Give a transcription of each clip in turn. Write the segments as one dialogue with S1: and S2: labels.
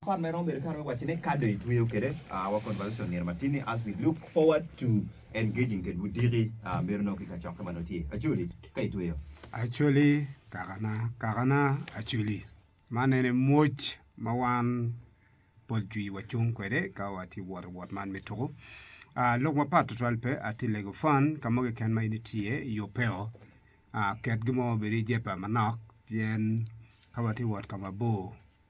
S1: Part me romo bedo kare me wacce ni ka dong itweyo kede our conversation myero matini as we look forward to engaging ked wudiki meri nongo ki kacokke ma nongo tye. Acholi, ka itweyo. Acholi,
S2: Kakana, Kakana, Acholi, man en aye mwoc ma wan pol jwi wacung kwede ka watye wot i wot man me tuku. Ah, lok mapat twatwal pe, atye i Legofen, ka mo keken ma in itye i yo peo. Ah, ket gin mo ma obedo i jebba manok pien ka watye wot ka mabor.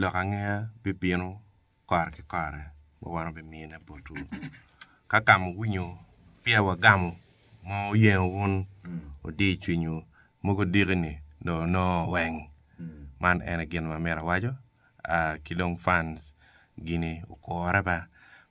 S3: Lok angeya bibino kare ki kare ma wan wubimine botwu. Ka ka ma wuwinyo peya wagamo ma oyengo wun, wudir cwinywu, mogo diki-ni dong wunongo weng. Man en aye gin ma myero awaco, aa ki dong fans gini okure ba.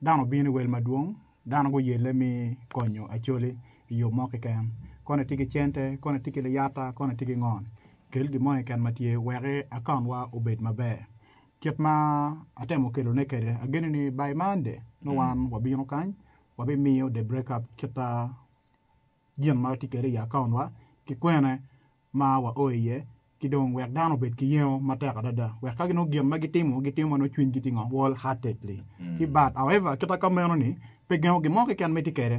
S4: Dano obino i wel madwong, dano guyelle mi konyo Acholi i yo mo keken. Koni tye ki cente, koni tye ki liyata, koni tye ki ngo. Kel gin mo keken ma tye wek akaunwa obed maber. Kit ma atemo kelone kwede, ageni ni by Monday nongo wan wabino kany, wabimiyo the breakup kita gin ma watye kwede i akaunwa ki kwene. ma wao iye, ki dong wek dano obed ki yengo matek adada wek ka ginongo gin ma gitimo gitimo ma nongo cwinygi tye ngo, whole heartedly, ki but however kit ma ka meno ni pe gengo gin mo keken ma itye kwede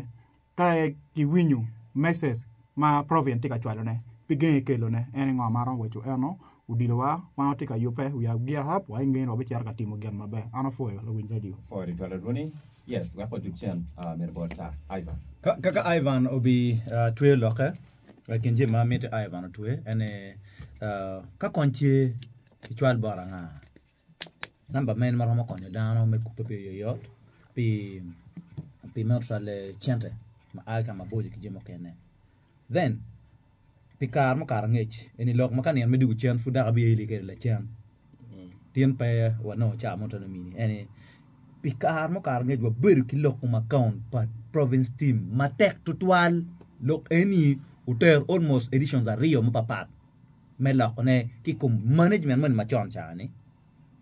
S4: ka ki winyo message ma Provian tye ka cwalo ne pe genge kelo ne en ni ngo ma aromo waco eno odilo wa wan watye ka yube we are gear up wa i ngeye ni wabi cito ka timo gin maber an apwoyo lawiny radio.
S1: Kaka Ivan
S5: obi tweyo lokke. I kin jami ma mitte Ivan otwe en ni ka kony tye icwal bot anga namba meno ma romo konyo dano me kubbe pi yoyot pi me cwalo cente ma a ki ka maboco ki jami mukene then pi kare mukato angec eni lok ma ka nino me dwogo cen pud dok abye ili kwede lacen Tin pe wanongo caa mo teno mini en ni pi kare mukato ngec wabedo ki lok ma account pa province team matek tutwal lok eni otero almost editions aryo mapapat me lokone ki kom management moni macon caa ni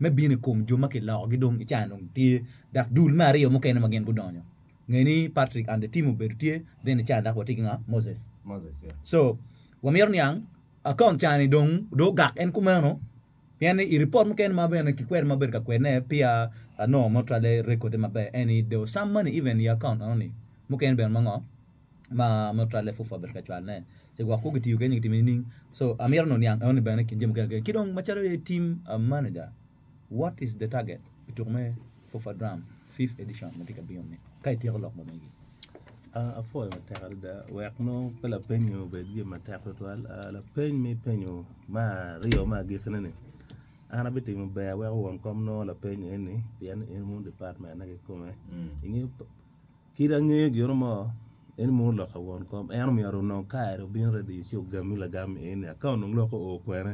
S5: me bino i kom jo ma kilokogi dong i caa dong tye dak dul me aryo mukene ma gin gudonyo nge ni Patrick and the team obedo tye then i caa dak watye ki nga Moses Moses yeah. so wamito niang Akaont cani dong ogak en kumeno pien ni i ripot mukene ma bene kikwero ma abedo ka kwedone peya anongo mo twale rekode maber en ni there was some money even i akaont eno ni mukene bene ma ngo ma mo twale fufu abedo ka cwalone ci gwok ku gitiyo kede nyo gitimo nining so amito ni oniang eno ni bene i kin jami mukene ki dong macalo aye team manager. What is the target pi tuko me Fufa Drum fifth edition ma tye ka bino ni ka ityeko lok ma megi? Ah, apwoyo
S6: matek adada wek nongo pe lapeny-nyi obed gin matek tutwal. Ah, lapeny ma ipenyo me aryo me agikine ni, an abitimo ber wek owon kom nongo lapeny eni pien in wun dipatmenne kikome. Inge, kit angeyo gino mo, in munu lok ka won kom, en omiyo aru nongo kare obino ready ci ogami lagam eni, aka onongo lok oo kwene.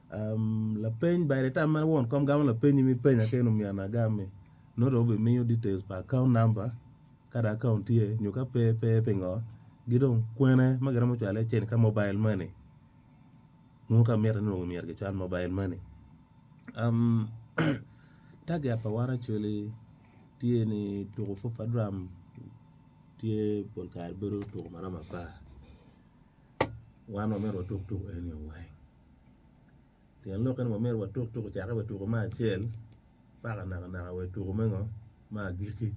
S6: Lapeny, By the time ma won kom gamo lapenyi ma ipenya kene omyero na agam-mi, nongo dong obimiyo details pa account number ka dong account tye nyo ka pe pe pingo ki dong kwene ma giromo cwale cen ka mobile money nongo ka mitte nongo myero gicwal mobile money. Target pa wan actually tye ni tuko fufa drum tye pol kare bedo tuko ma romo apar wan wamito watuk tuko eni weng. Tyen lok eno myero watuk tuk ocake wa i tuko me acel paka naka naka wa i tuko me ngo me agiki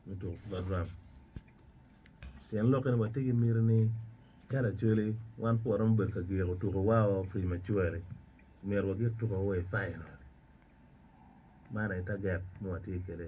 S6: me tuko ki badram tyen lok eno watye ki miti ni ka lacwele wan pe waromo bedo ka giko tuko wa o prematurely myero wagik tuko wa i final man aye taget ma watye kwede.